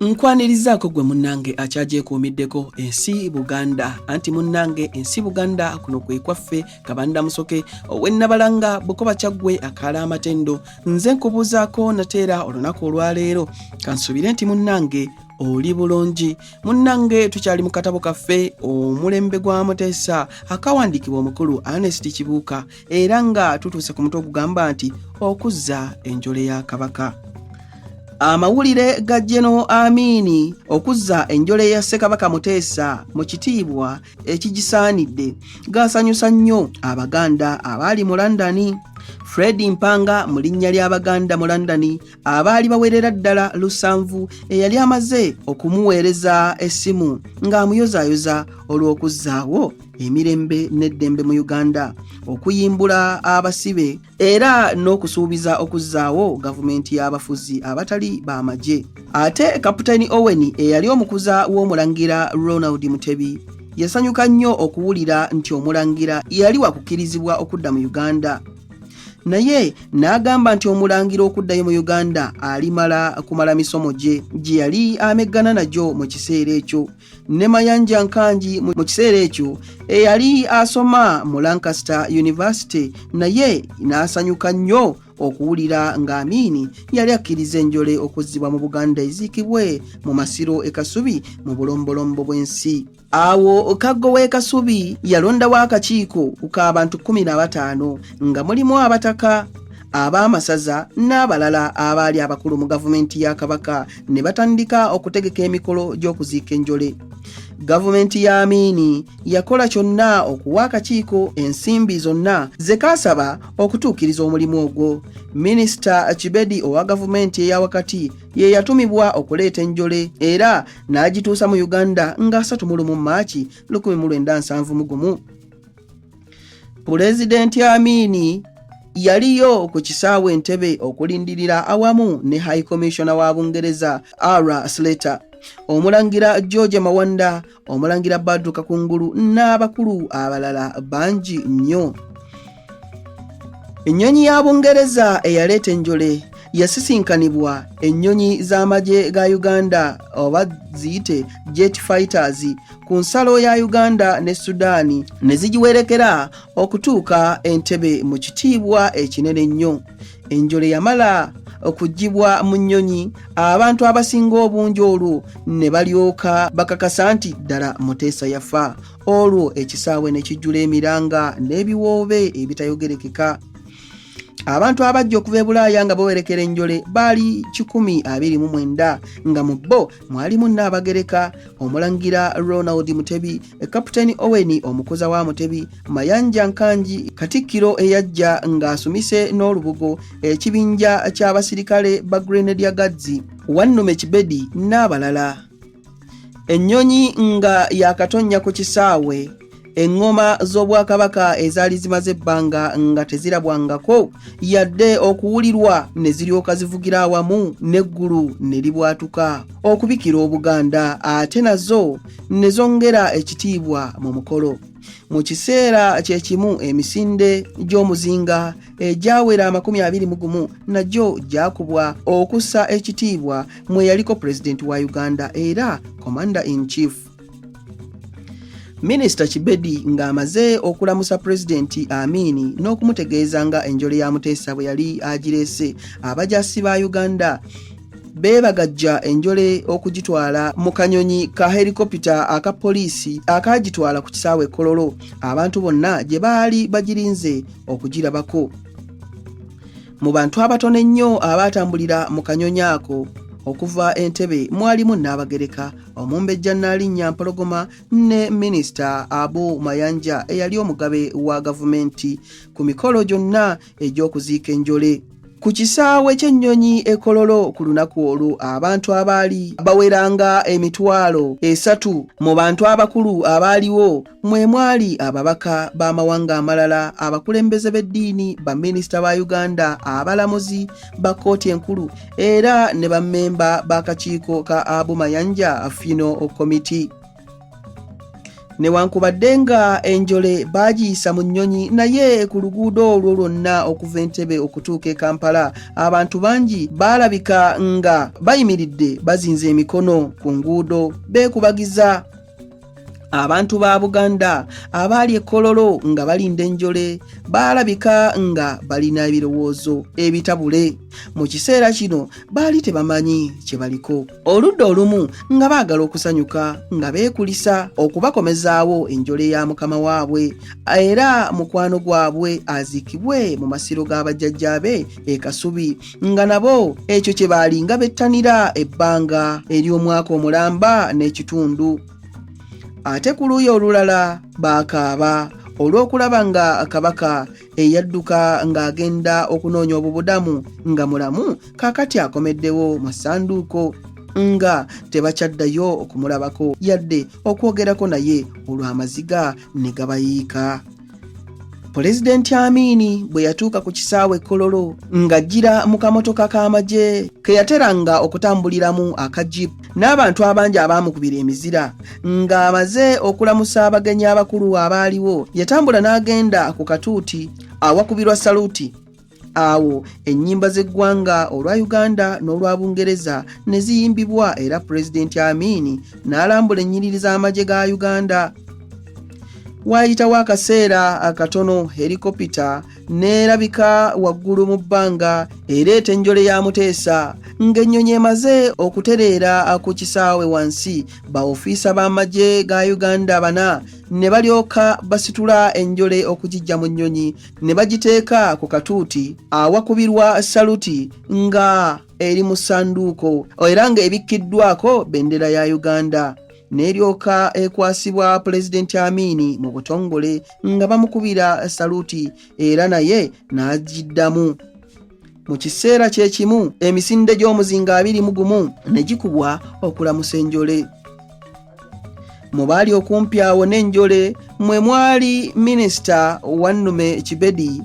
nkwanirizaako gwe munnange akyagyekuumiddeko ensi buganda anti munnange ensi buganda kuno kwe kwaffe kabanda musoke owennabalanga bukoba kyaggwe akaala amatendo nze nkubuuzaako nateera olunaku olwaleero kansuubire nti munnange oli bulungi munnange tukyali mu katabo kaffe omulembe gwa muteesa akawandiikibwa omukulu anesti kibuuka era nga tutuuse ku mutwe ogugamba nti okuzza enjole ya kabaka amawulire ga jeno amiini okuzza enjole ya ssekabaka muteesa mu kitiibwa ekigisaanidde gaasanyusa nnyo abaganda abaali mu londoni fred mpanga mu linnya ly'abaganda mu londoni abaali bawerera ddala lusanvu eyali amaze okumuweereza essimu ng'amuyozaayoza olw'okuzzaawo emirembe n'eddembe mu uganda okuyimbula abasibe era n'okusuubiza okuzzaawo gavumenti y'abafuzi abatali b'amagye ate kaputeni owen eyali omukuza w'omulangira ronald mutebi yasanyuka nnyo okuwulira nti omulangira yali wakukirizibwa okudda mu uganda naye n'agamba nti omulangira okuddayo mu uganda alimala kumala misomo gye gye yali ameggana nagyo mu kiseera ekyo ne mayanja nkangi mu kiseera ekyo eyali asoma mu lancaster university naye n'asanyuka nnyo okuwulira nga amiini yali akkiriza enjole okuzzibwa mu buganda eziikibwe mu masiro e kasubi mu bulombolombo bw'ensi Awo Kaggo w'e Kasubi yalondawo akakiiko k'abantu kkumi na bataano nga mulimu abataka ab'amasaza n'abalala abaali abakulu mu gavumenti ya Kabaka ne batandika okutegeka emikolo gy'okuziika enjole. Gavumenti ya Amiini yakola kyonna okuwa akakiiko ensimbi zonna ze kaasaba okutuukiriza omulimu ogwo. Minisita Kibedi owa gavumenti eya wakati ye yatumibwa okuleeta enjole era n'agituusa mu uganda nga 3 mu lumu maaki 1970 gumu pulezidenti amiini yaliyo ku kisaawe entebe okulindirira awamu ne high commissioner wa bungereza ara slater omulangira george mawanda omulangira badru kakungulu n'abakulu abalala bangi nnyo ennyonyi ya bungereza eyaleeta enjole yasisinkanibwa ennyonyi z'amagye ga uganda oba ziyite jet fighters ku nsalo ya uganda ne sudaani ne zigiwerekera okutuuka entebe mu kitiibwa ekinene ennyo enjole yamala okugibwa mu nnyonyi abantu abasinga obungi olwo ne balyoka bakakasa nti ddala muteesa yafa olwo ekisaawe ne kijjula emiranga n'ebiwoobe ebitayogerekeka abantu abajja okuva ebulaaya nga bawerekera enjole baali 129 nga mu bo mwalimu nnaabagereka omulangira ronald mutebi kaputeni owen omukuza wa mutebi mayanja nkangi katikkiro eyajja ng'asumise n'olubugo ekibinja ky'abasirikale ba grenedia gadzi wannume kibedi n'abalala ennyonyi nga yakatonnya ku kisaawe eŋŋoma z'obwakabaka ezaali zimaze ebbanga nga tezirabwangako yadde okuwulirwa ne ziryoka zivugira awamu n'eggulu ne libwatuka okubikira obuganda ate nazo ne zongera ekitiibwa mu mukolo mu kiseera kye kimu emisinde gy'omuzinga egyawera amakumi abiri mu gumu nagyo gyakubwa okussa ekitiibwa mweyaliko pulezidenti wa uganda era commander in chief minisita kibedi ng'amaze okulamusa pulezidenti amiini n'okumutegeeza nga enjole ya muteesa bwe yali agireese abajasi ba uganda beebagajja enjole okugitwala mu kanyonyi ka helikopita aka poliisi akaagitwala ku kisaawe kololo abantu bonna gye baali bagirinze okugirabako mu bantu abatono ennyo abaatambulira mu kanyonyi ako okuva entebe mwalimu nnaabagereka omumbejja nnaalinnya mpologoma ne minisita abu mayanja eyali omugabe wa gavumenti ku mikolo gyonna egy'okuziika enjole Ku kisaawe ky'ennyonyi e Kololo ku lunaku olwo abantu abaali baweranga emitwalo esatu mu bantu abakulu abaaliwo mwe mwali ababaka b'amawanga amalala abakulembeze b'eddiini baminisita ba Uganda abalamuzi ba kkooti enkulu era ne bammemba b'akakiiko ka Abu Mayanja Funeral Committee. newankubadde nga enjole baagiyisa mu nnyonyi naye ku luguudo olwo lwonna okuva entebe okutuuka e kampala abantu bangi baalabika nga bayimiridde bazinze emikono ku nguudo beekubagiza abantu ba buganda abaali ekololo nga balinda enjole baalabika nga balina ebirowoozo ebitabule mu kiseera kino baali tebamanyi kye baliko oludda olumu nga baagala okusanyuka nga beekulisa okubakomezaawo enjole ya mukama waabwe era mukwano gwabwe aziikibwe mu masiro ga bajjajjaabe e kasubi nga nabo ekyo kye baalinga bettanira ebbanga ery'omwaka omulamba n'ekitundu ate ku luuyi olulala baakaaba olw'okulaba nga kabaka eyadduka ng'agenda okunoonya obubudamu nga mulamu kaakati akomeddewo mu ssanduuko nga tebakyaddayo okumulabako yadde okwogerako naye olw'amaziga ne gabayiika pulezidenti amiini bwe yatuuka ku kisaawe kololo ng'ajjira mu kamotoka k'amagye ke yateranga okutambuliramu aka jipu n'abantu abangi abaamukubira emizira ng'amaze okulamusa abagenyi abakulu abaaliwo yatambula n'agenda ku katuuti awakubirwa saluti awo ennyimba z'eggwanga olwa uganda n'olwa bungereza ne ziyimbibwa era pulezidenti amiini n'alambula ennyiriri z'amagye ga uganda waayitawo akaseera akatono helikopita n'erabika waggulu mu bbanga ereeta enjole ya muteesa ng'ennyonyi emaze okutereera ku kisaawe wansi baofiisa b'amagye ga uganda bana ne balyoka basitula enjole okugijja mu nnyonyi ne bagiteeka ku katuuti awakubirwa saluti nga eri mu ssanduuko era ng'ebikkiddwako bendera ya uganda n'eryoka ekwasibwa pulezidenti amiini mu butongole nga bamukubira saluti era naye n'agiddamu mu kiseera kye kimu emisinde gy'omuzinga abiri mu gumu ne gikubwa okulamusa enjole mu baali okumpi awo n'enjole mwe mwali minisita wannume kibedi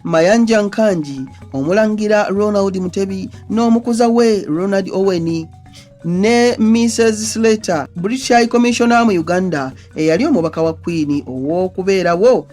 mayanja nkangi omulangira ronald mutebi n'omukuza we ronald oweni ne Mrs Slater British High Commissioner mu Uganda eyali omubaka wa Queen ow'okubeerawo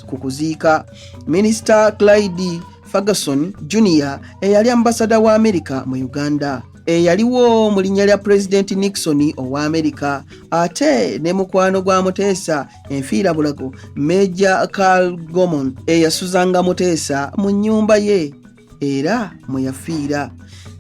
ku kuziika Minisita Clyde Ferguson Junior eyali ambasada wa Amerika mu Uganda eyaliwo mu linnya lya Pulezidenti Nixon owa Amerika ate ne mukwano gwa Muteesa enfiira bulago Major Carl Gomon eyasuzanga Muteesa mu nnyumba ye era mwe yafiira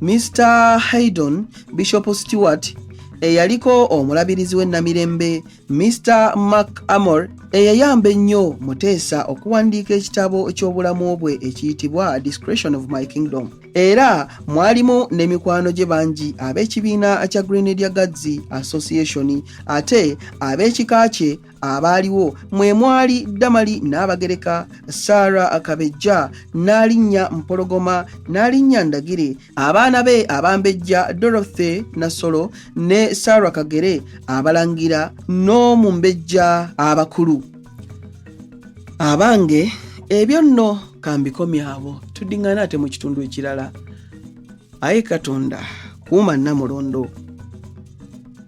mr haydon bishop stewart eyaliko omulabirizi w'e namirembe mr mark amor eyayamba ennyo muteesa okuwandiika ekitabo ky'obulamu bwe ekiyitibwa discretion of my kingdom era mwalimu ne mikwano gye bangi ab'ekibiina kya grenadier guards association ate ab'ekika kye abaaliwo mwe mwali damali n'abagereka sara akabejja n'alinnya mpologoma n'alinnya ndagire abaana be abambejja dorothy nasolo ne sara kagere abalangira n'omumbejja abakulu abange ebyo nno kambikomyabo tudiŋŋana ate mu kitundu ekirala aye katonda kuuma namulondo